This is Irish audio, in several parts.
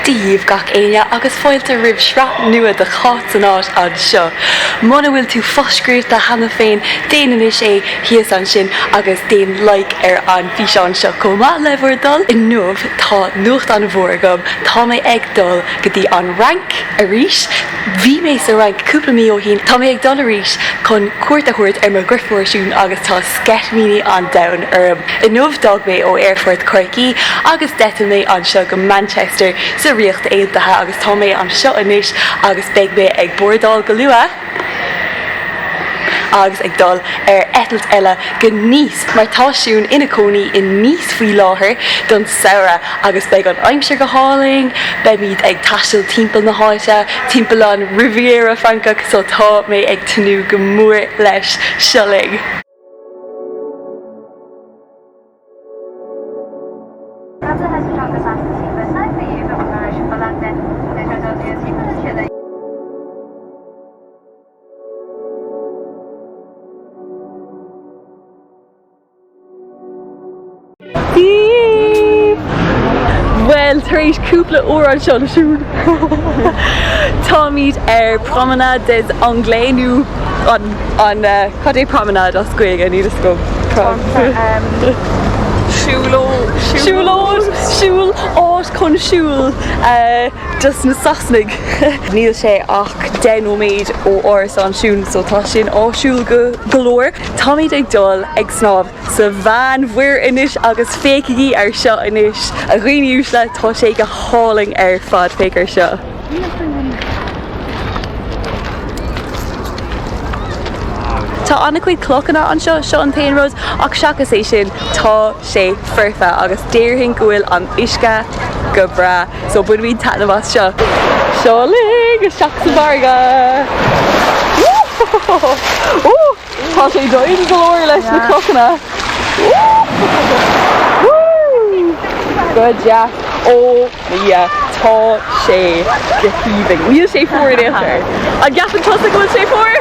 Dia daoibh gach éinne agus fáilte roimh shraith nua de Cháit in Áit anseo. Muna bhfuil tú fo-scríobhta cheana féin, déan anois é, thíos ansin, agus déan like ar an físeán seo chomh maith, le bhur dtoil! Inniu, tá nuacht an-mhór agam, tá mé ag dul go dtí an Fhrainc, arís! Bhí mé sa Fhrainc cúpla mí ó shin. Tá mé ag dul arís chun cuairt a thabhairt ar mo dheirfiúr Siún agus tá sceitimíní an domhain orm. Inniu d'fhág mé ó aerfort Chorcaí agus d'eitil mé anseo go Manchester sa Ríocht Aontaithe agus tá mé anseo anois agus beidh mé ag bordáil go luath agus ag dul ar eitilt eile go Nice mar tá Siún ina cónaí in Nice faoi láthair don samhradh agus beidh an aimsir go hálainn. Beimid ag taisteal timpeall na háite, timpeall an Riviera Francach so tá mé ag tnúth go mór leis. Seo linn. Bhuel, tar éis cúpla uair anseo le Siún, táimid ar Promenade des Anglais, nó an, an, cad é Promenade as Gaeilge, níl 'fhios agam? Siúl ó, siúl ó, siúl, áit chun siúl dos na Sasanaigh. Níl sé ach deich nóiméad ó árasán Siún so tá sin áisiúil go, go leor. Táimid ag dul ag snámh sa Mheánmhuir anois agus féachaigí ar seo anois, a dhaoine uaisle, tá sé go hálainn ar fad, féach ar seo. Tá an-chuid clochanna anseo, seo an t-aon rud, ach seachas é sin, tá sé foirfe agus déarfainn go bhfuil an uisce go breá. So bainfimid taitneamh as seo. Seo linn isteach sa bhfarraige! Woo! Ooh! Tá sé doimhin go leor leis na clochanna. Woo! Woo! Go deas! Oh yeah! Tá sé go haoibhinn. Níl sé fuar in aon chor. An gceapann tusa go bhfuil sé fuar?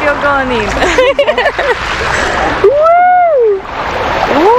Beagáinín. Woo! Woo!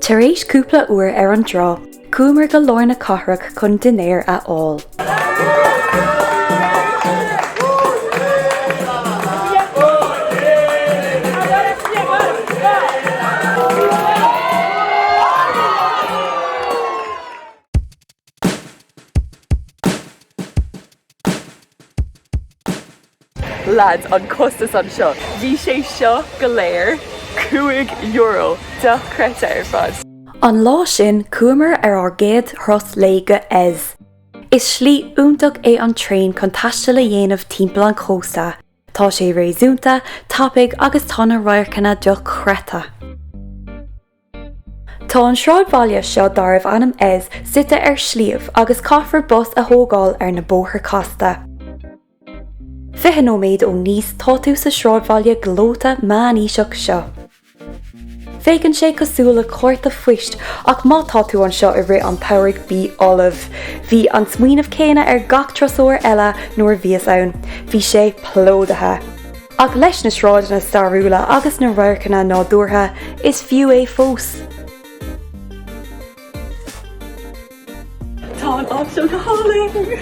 Tar éis cúpla uair ar an dtrá, chuamar go lár na cathrach chun dinnéar a fháil. Leads, an costas anseo, bhí sé seo go léir cúig euro dochreidte ar fad. An lá sin chuamar ar ár gcéad thuras lae go Eze. Is slí iontach é an traein chun taisteal a dhéanamh timpeall an chósta, tá sé réasúnta, tapaidh agus tá na radharcanna dochreidte. Tá an sráidbhaile seo darbh ainm Eze suite ar shliabh agus caithfear bus a thógáil ar na bóithre casta. Fiche nóiméad ó Nice tá tú sa sráidbhaile gleoite meánaoiseach seo. Féachann sé cosúil le cárta phoist ach má tá tú anseo i rith an tsamhraidh bí ullamh! Bhí an smaoineamh céanna ar gach turasóir eile nuair a bhíos ann. Bhí sé plódaithe! Ach leis na sráideanna stairiúla agus na radharcanna nádúrtha, is fiú é fós. Tá an áit seo go hálainn!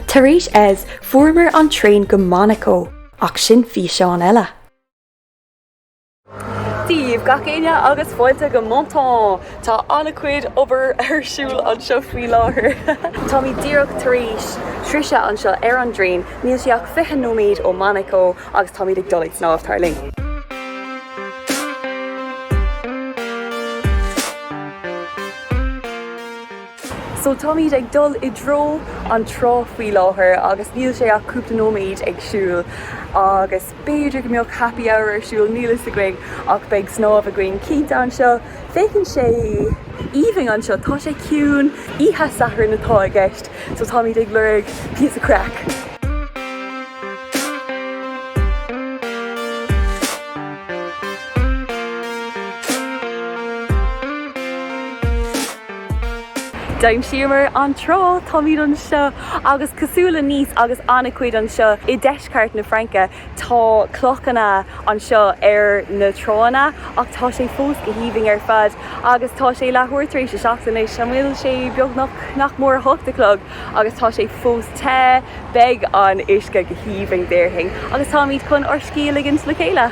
Tar éis Eze, fuaireamar an traein go Monacó, ach sin físeán eile! Dia daoibh gach éinne agus fáilte go Menton! Tá an-chuid obair ar siúl anseo faoi láthair. Táimid díreach tar éis sroicheadh anseo ar an dtraein, níl sé ach fiche nóiméad ó Monaco agus táimid ag dul ag snámh, tar linn! So táimid ag dul i dtreo an trá faoi láthair agus níl sé ach cúpla nóiméad ag siúl agus. B'fhéidir go mbeadh happy hour ar siúl, níl fhios againn, ach beidh snámh againn cinnte anseo. Féachann sé aoibhinn anseo, tá sé ciúin, oíche Sathairn atá i gceist, so táimid ag lorg píosa craic. D'aimsíomar an trá, táimid anseo agus cosúil le Nice agus an-chuid anseo i. ndeisceart na Fraince. Tá clochanna anseo ar na tránna ach tá sé fós go haoibhinn ar fad agus tá sé leathuair tar éis a seacht anois. An bhfuil sé beagnach, nach mór, a hocht a chlog agus tá sé fós te. Beidh an t-uisce go haoibhinn déarfainn agus táimid chun ár scíth a ligint le chéile.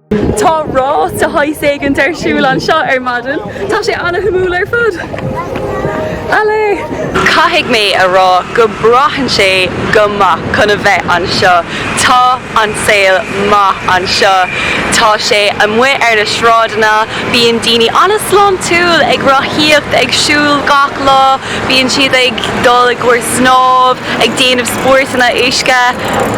Tá rás de shaghas éigint ar siúl anseo ar maidin. Tá sé ana-shuimiúil ar fad. Allez! Caithfidh mé a rá go braitheann sé go maith chun a bheith anseo. Tá an saol maith anseo. Tá sé amuigh ar na sráideanna, bíonn daoine an-sláintiúil ag rothaíocht, ag siúl gach lá, bíonn siad ag dul i gcomhair snámh, ag déanamh. spórtanna uisce,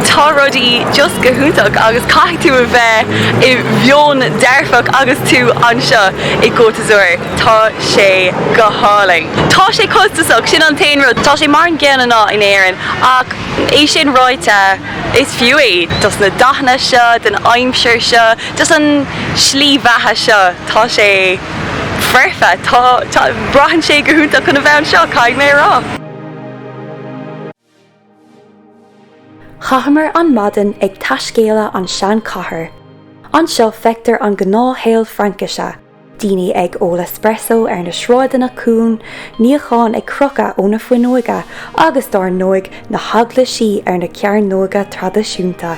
tá rudaí just go hiontach agus caithfidh tú a bheith i mheon dearfach agus tú anseo i gCôte d'Azur, tá sé go hálainn. Tá sé costasach, sin an t-aon rud. Tá sé mar an gcéanna nach in Éirinn, ach é sin ráite, is fiú é dos na dathanna seo, don aimsir seo, dos an slí bheatha seo, tá sé foirfe, tá, tá, braitheann sé go hiontach chun a bheith anseo, caithfidh mé a rá. Chaitheamar an maidin ag taiscéaladh an sean-chathair. Anseo feictear an gnáthshaol Fraincise, daoine ag ól espresso ar na sráideanna cúng, níocháin ag crochadh ó na fuinneoige agus dár ndóigh na heaglaisí ar na cearnóga traidisiúnta.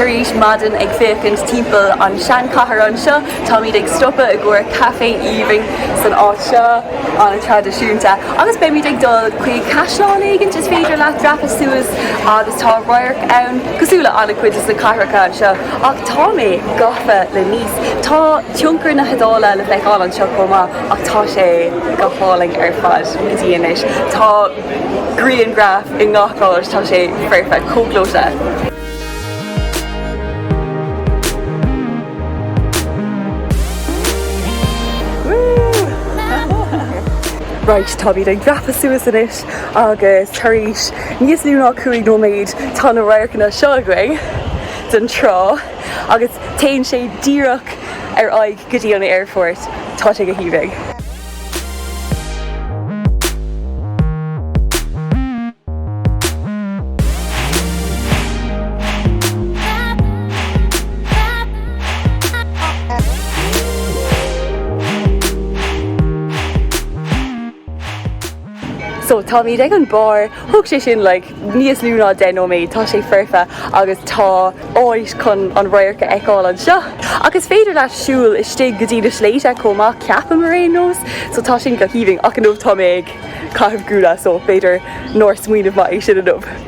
Tar éis maidin ag féachaint timpeall an seanchathair anseo, táimid ag stopadh i gcomhair caife aoibhinn san áit seo an-traidisiúnta agus beimid ag dul chuig caisleán éigin is féidir leat dreapadh suas agus tá radharc ann cosúil le an-chuid de na cathracha anseo, ach tá mé gafa le Nice. Tá tionchar na hIodáile le feiceáil anseo chomh maith, ach tá sé go hálainn ar fad go dtí anois. Tá grianghraif i ngach áit, tá sé foirfe, chomh gleoite. Raight, táimid ag dreapadh suas anois. Agus tar éis níos lú ná cúig nóiméad, tá na radharcanna seo againn den trá agus téann sé díreach ar aghaidh go dtí an aerfort. Tá sé go haoibhinn. So táimid ag an barr, thóg sé sin like níos lú ná 10 nóiméad, tá sé foirfe agus tá áit chun an radharc a fheiceáil anseo. Ach is féidir leat siúl istigh go dtí na sléibhte chomh maith ceapaim ar aon nós, so tá sin go haoibhinn ach inniu tá mé ag caitheamh gúna so b'fhéidir nár smaoineamh maith é sin inniu.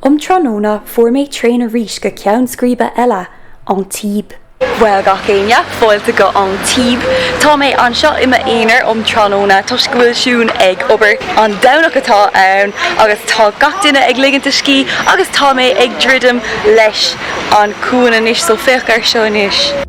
Um tráthnóna fuair mé traein arís go ceann scríbe eile, Antibes. Bhuel, gach éinne, fáilte go Antibes. Tá mé anseo i m'aonar um tráthnóna toisc go bhfuil Siún ag obair. An Domhnach atá ann agus tá gach duine ag ligint a scíth agus tá mé ag druidim leis an chuan anois, so féach air seo anois.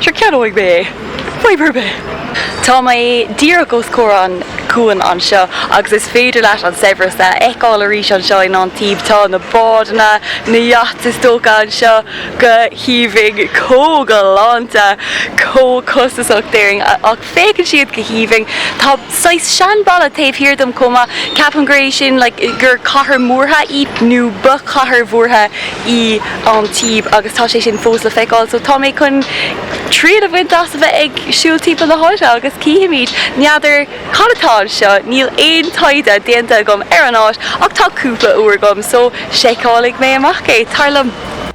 Sure, ceannóidh mé é. Fadhb ar bith! Tá mé díreach os comhair an chuain anseo agus is féidir leat an saibhreas a fheiceáil arís anseo in Antibes. Tá na bádanna, na yachts is dócha, anseo go haoibhinn, chomh galánta, chomh costasach, déarfainn, ach Féachann siad go haoibhinn. Tá saghas seanbhalla taobh thiar díom chomh maith. Ceapaim gur é sin like gur cathair mhúrtha í, nó ba chathair mhúrtha í Antibes agus tá sé sin fós le feiceáil. So tá mé chun triail a bhaint as a bheith ag siúl timpeall na háite agus chífimid. N'fheadar cad atá anseo, níl aon taighde déanta agam ar an áit ach tá cúpla uair agam so seiceálfaidh mé amach é. Tar liom.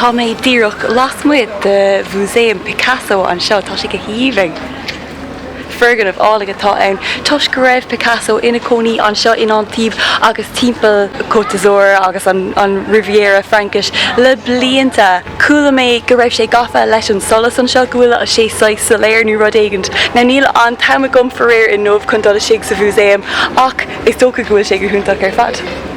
Tá mé díreach lasmuigh de Mhúsaem Picasso anseo. Tá sé go haoibhinn. Foirgneamh álainn atá ann. Toisc go raibh Picasso ina chónaí anseo in Antibes agus timpeall Côte d'Azur agus an Riviera Fraincise le blianta, chuala mé go raibh sé gafa leis an solas anseo, go bhfuil sé saghas soiléir nó rud éigint. Now níl an t-am agam faraor inniu chun dul istigh sa Mhúsaem ach is dócha go bhfuil sé go hiontach ar fad.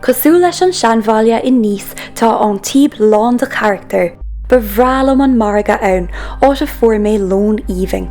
Cosúil leis an seanbhaile in Nice tá Antibes lán de charachtar. Ba bhreá liom an margadh ann, áit a fuair mé lón aoibhinn.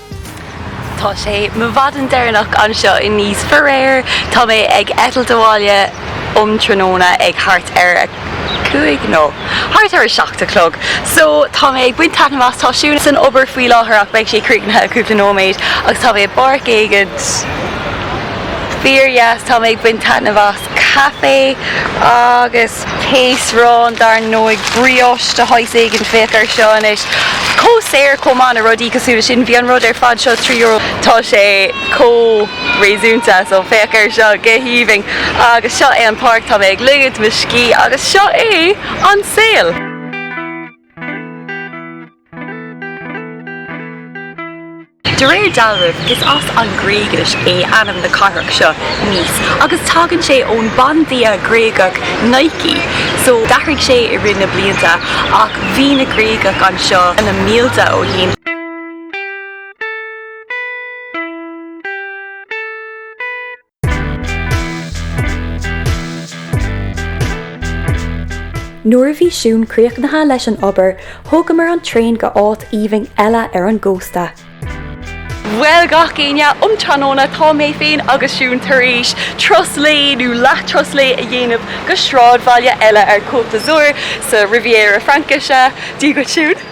Tá sé mo mhaidin deireanach anseo i Nice. Faraor, tá mé ag eitilt abhaile um tráthnóna ag thart ar a cúig, nó thart ar a seacht a chlog. So, tá mé ag baint taitneamh as, tá Siún san obair faoi láthair ach beidh sé críochnaithe i gcúpla nóiméad agus tá mé i bpáirc éigint fíor dheas, tá mé ag baint taitneamh as. caife agus péastrán, dar ndóigh, brioche de shaghas éigin, féach air seo anois, chomh saor, chomh maith le rudaí cosúil leis sin. Bhí an rud ar fad seo trí euro. Tá sé chomh réasúnta so féach air seo, go haoibhinn. Agus seo é an páirc, tá mé ag ligint mo scíth agus seo é an saol. De réir dealraimh, is as an Ghréigis é ainm na cathrach seo, Nice, agus tagann sé ón bandia Gréagach Nike. So, d'athraigh sé i rith na blianta, ach bhí na Gréagaigh anseo na mílte ó shin. Nuair a bhí Siún críochnaithe leis an obair, thógamar an traein go áit aoibhinn eile ar an gcósta. Bhuel gach éinne, um tráthnóna tá mé féin agus Siún tar éis turas lae nó leath turas lae a dhéanamh go sráidbhaile eile ar Côte d'Azur, sa Riviera Fraincise. Dia dhuit Siún!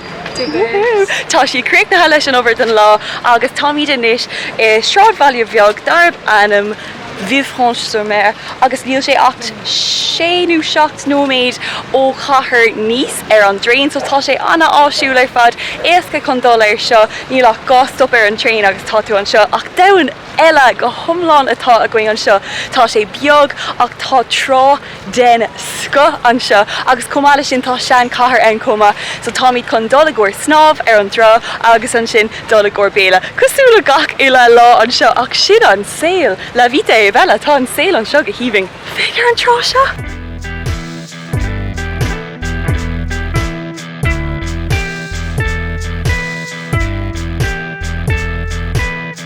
Tá sí críochnaithe leis an obair don lá agus táimid anois i sráidbhaile beag darb ainm Villefranche-sur-Mer agus níl sé ach sé nó seacht nóiméad ó chathair Nice ar an dtraein so tá sé an-áisiúil ar fad, éasca chun dul anseo, níl ach dhá stop ar an traein agus tá tú anseo. Ach domhan eile go hiomlán atá againn anseo. Tá sé beag ach tá trá. den scoth anseo agus chomh maith leis sin tá sean chathair ann chomh maith so táimid chun dul i gcomhair snámh ar an dtrá agus ansin dul i gcomhair béile cosúil le gach uile lá anseo ach sin an saol la vita e bella tá an saol anseo go haoibhinn féach ar an trá seo!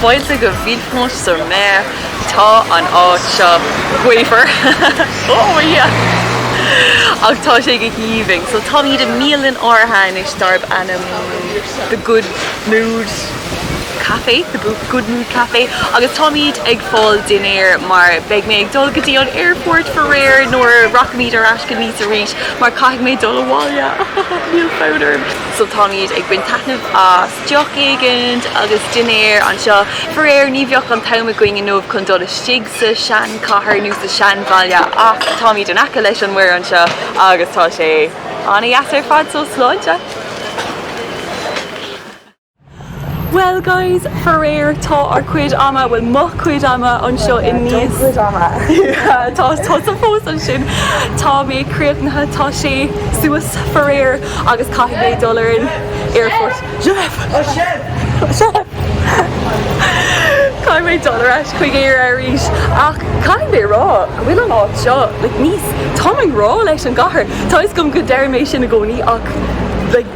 Fáilte go Villefranche-sur-Mer, tá an áit seo gaofar, oh yeah! ach tá sé go haoibhinn, so táimid i mbialann áirithe anois darb ainm The Good Mood. Café, The Good Mood Café agus táimid ag fáil dinnéir mar beidh mé ag dul go dtí an airport faraor nuair a rachaimid ar ais go Nice arís mar caithfidh mé dul abhaile. Níl fonn orm! So táimid ag baint taitneamh as deoch éigin agus dinnéir anseo faraor ní bheidh an t-am againn inniu chun dul istigh sa sean chathair nó sa sean bhaile ach táimid in aice leis an muir anseo agus tá sé an-deas ar fad so sláinte! Well guys, faraor, tá ár cuid ama, bhuel mo chuid ama anseo i Nice cuid ama yeah tá tusa fós ansin, tá mé críochnaithe, tá sé suas faraor agus caithfidh mé dul ar an airport shut up shut up caithfidh mé dul ar ais chuig Éire arís ach caithfidh mé a rá go bhfuil an áit seo like Nice táim ag rá leis an gcathair, tá a fhios agam go ndeir mé sin i gcónaí ach like.